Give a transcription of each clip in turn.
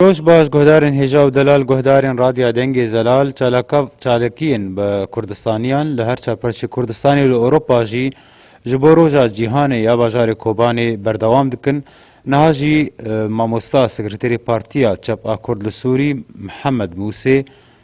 Dost Baz guhdarên hêja û delal guhdarên Radya Dengê Zelal çalakav çalakiyên bi Kurdistaniyan li her çar parçeyê Kurdistanê û li Ewropa jî ji bo Roja Cîhanê ya bajarê Kobanê berdewam dikin. Niha jî mamosta sekreterê Partiya Çep a Kurd li Sûrî Mihemed Mûsê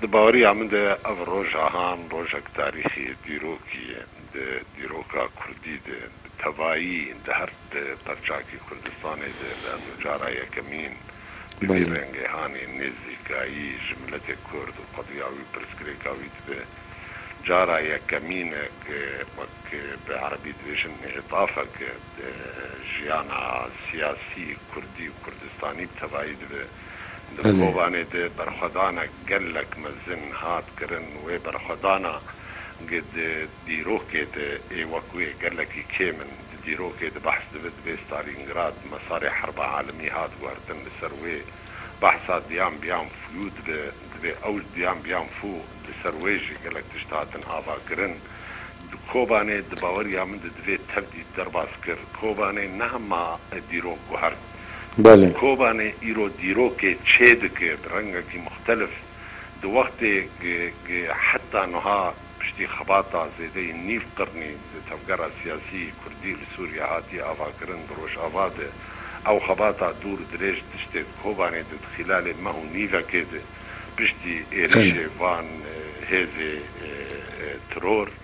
Di baweriya min de ev rojahan rojek tarîxî dîrokî ye. Di dîroka kurdî de bi tevayî di her di perçakî Kurdistanê de bi ez û cara yekemîn bi vî rengê hanê nêzîkayî ji miletê kurd û qediya wî û pirsgirêka wî dibe. Cara yekemîn e ku wek bi erebî dibêjin îtafek e di jiyana siyasî kurdî û kurdistanî bi tevayî dibe. Di vê kovane de berxwedana gelek mezin hat kirin. Wê berxwedana ge di dîrokê de ê wek wê gelekî kêm in. Di dîrokê de behs dibe divê Stalîngrad mesarê herba alemî hat guhertin li ser wê. Behsa diyan biyan fûyû dibe. Divê ew ji diyan biyan fû li ser wê jî gelek tişt hatin avakirin. Di Kobanê di baweriya min de divê tev dît derbas kir. Kobanê ne hema dîrok guhert. Belê. Kobanê îro dîrokê çê dike bi rengekî muxtelif. Di wextê ge heta nuha piştî xebata zêdeyî nîv qirnî di tevgera siyasî kurdî li Sûriyê hatî avakirin di rojava de ew xebata dûr dirêj tiştê di Kobanê de di xîlalê meh û nîvekê de piştî êrîşê van hêzê tiror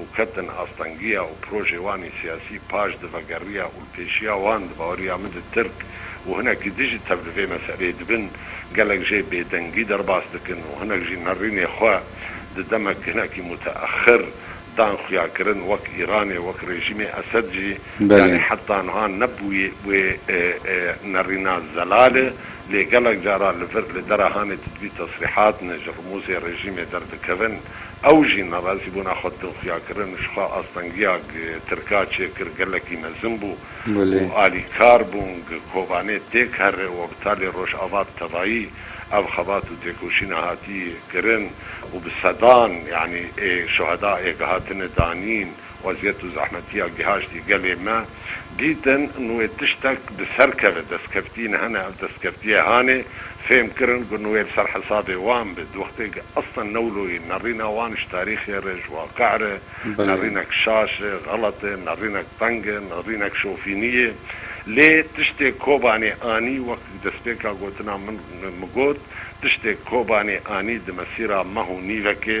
û ketin astengiya û projê wan ê siyasî paş di vegeriya û li pêşiya wan di baweriya min de Tirk û hinek jî dijî tev li vê meseleyê dibin. Gelek jê bêdengî derbas dikin û hinek jî nerînê xwe di demek hinekî muteexir dan xuyakirin wek Îranê wek rejîmê Esed jî yanî heta niha nebûye wê nerîna zelale lê gelek cara li vir li dere hanê didbî tesrîhat ne ji rimûzê rejîmê derdikevin. Ew jî nerazîbûna xwe din xuya kirin û ji xwe astengiya Tirka çêkir gelekî mezin bû û alîkar bûn Kobanê têk here û Opitalê Rojava bi tevayî ev xebat û têkoşîna hatî kirin û bi sedan yanî şuheda êk hatine danîn. Weziyet û zehmetiya gihaştî gelê me dîtin nuê tiştek bi ser keve destkeftiyên hene ev destkeftiyê hanê fêm kirin ku nuê li ser hesabê wan be di wextê ku eslan newloyê nerîna wan ji tarîxê re ji waqîe re nerînek şaş e xelet e nerînek teng e nerînek şofînî ye lê tiştê Kobanê anî wek ku destpêka gotina min got tiştê Kobanê anî di mesîra meh û nîvekê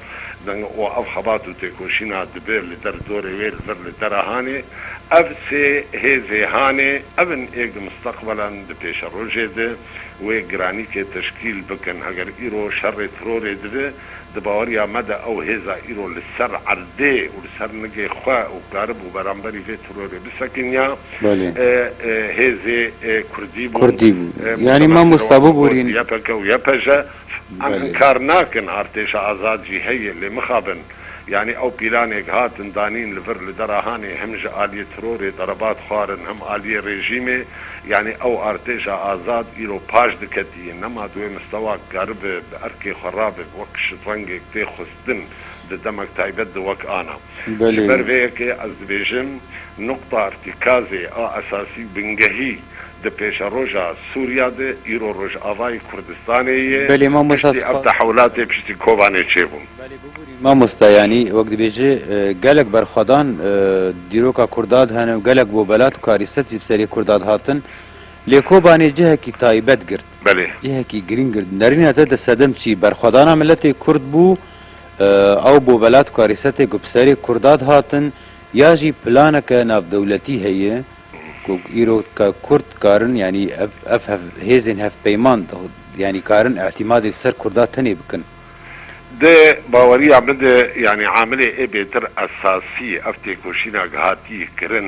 Deng û ev xebat û têkoşîna dibe li der dorê wê li vir li dera hanê. Ev sê hêzê hanê ev in ê gi misteqbelan di pêşerojê de wê giranîkê teşkîl bikin. Heger îro şerê tirorê dibe, di baweriya me de ew hêza îro li ser erdê û li ser nigê xwe û karibû beramberî vê tirorê bisekiniya Belê. hêzê kurdî bûn. Kurdî bûn. Yanî Mustafa Mamosta Serewak Bûbûrîn. Abod, YPG û YPJ, Em hin kar nakin, artêşa azad jî heye lê mixabin. Yanî ew pîlanêk hatin danîn li vir li dera hanê hem ji aliyê tirorê derebat xwarin hem aliyê rejîmê. Yanî ew artêşa azad îro paş diketiye nema di wê mistewak karibe bi erkê xwe rabe bi wek şidrengêk tê xwist. din di demek taybet de wek ana. Ji ber vê yekê ez dibêjim nuqta îrtîkazê a esasî û bingehî di pêşeroja Sûriya de îro Rojavayê Kurdistanê yê. Piştî ev tehewlatê piştî Kobanê çêbûn. Belê bibûrî mamosta yanî wek dibêjî gelek berxwedan dîroka Kurda de hene û gelek bobelat û karîset jî bi serê Kurda de hatin lê Kobanê cihekî taybet girt. Belê. Cihekî girîng gird nerîna te di sedem çî berxwedana miletê kurd bû, ew bo velat karîsetê ku bi serê kurda dihatin ya jî planeke navdewletî heye ku îro kurd dikarin yanî ev ev hev hêzên hevpeyman yanî dikarin îtîmadê li ser kurda tenê bikin. Di baweriya min de yanî amilê ê bêtir esasî ev têkoşîna gihatî kirin.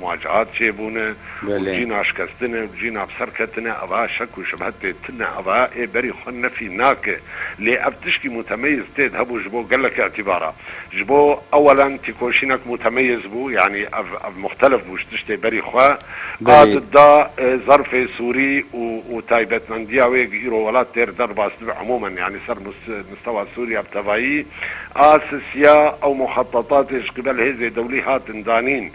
Muaceat çêbûne û cî naşkestine û cî navserketine eva şek û şibhetê tune eva ê berî xwe nefî nake. Lê ev tişkî mutemeyîz têd hebû ji bo gelek îtibara. Ji bo ewelen tîkoşînek mutemeyîz bû yanî ev ev muxtelif bû ji tiştê berî xwe a dida zerfê sûrî û û taybetmendiya wê eg îro welat têr derbas dibe emûmen yanî ser mûs mûstewa sûrîya bi tevayî a sisiya ew muxetetatê ji qîbel hêzê dewlî hatin danîn.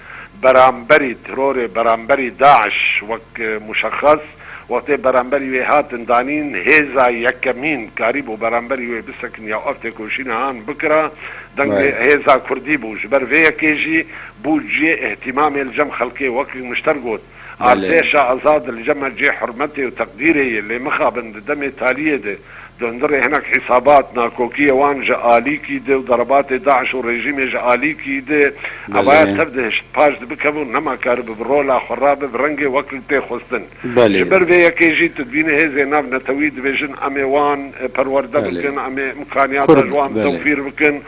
beramberî terorê beramberî DAIŞ wek muşexes wextê beramberî wê hatin danîn hêza yekemîn karîbû beramberî wê bisekin ya ev têkoşîna han bikira deng lê hêza kurdî bû ji ber vê yekê jî bû ciyê îhtîmamê li cem xelkê wek mişter got. Artêşa Azad li cem e cih hurmetê û teqdîrê ye lê mixabin di demê taliyê de dondirê hinek hîsabat, nakokiyê wan ji alîkî de û derebatê DAIŞ û rejîmê ji alîkî de xebaya tev dihişt, paş dibikeve û nema karibe bi rola xwe rabe bi rengê wek li tê xwestin. Ji ber vê yekê jî tu dibînî hêzên nav netewî dibêjin emê wan perwerde bikin, emê îmkaniyata ji wan tewfîr bikin.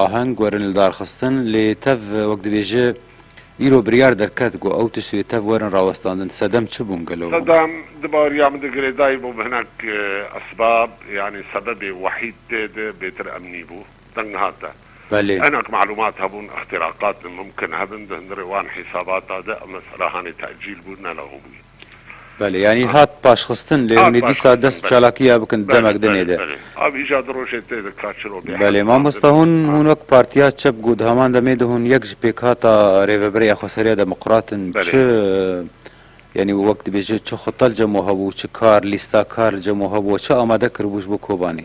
Aheng werin li dar xistin lê tev wek dibêje îro biryar derket ku ew tişt wê tev werin rawestandin. Sedem çi bûn gelo hûn? Sedem di bariya min de girêdayî bûm hinek esbab yanî sebebê wehîd tê de bêtir em nîbû. Deng hate. Belê. Hinek malûmat hebûn îxtîraqat mimkin hebin di hundirê wan hîsabata de em mesela hanê tecîl bû ne lewbûyî. Belê yanî hat paşxistin lê hûn ê dîsa dest bi çalakiya bikin demek dinê de. Belê belê. Av îca di rojê tê di ka çiro bê. Belê mamosta hûn hûn wek partiya çep ku di heman demê de hûn yek ji pêkhata rêveberê xweseriya demokrat in çi yanî wek dibêje çi xwe telcem we hebû çi kar lîsta kar li cem we hebû we çi amade kiribû ji bo Kobanê?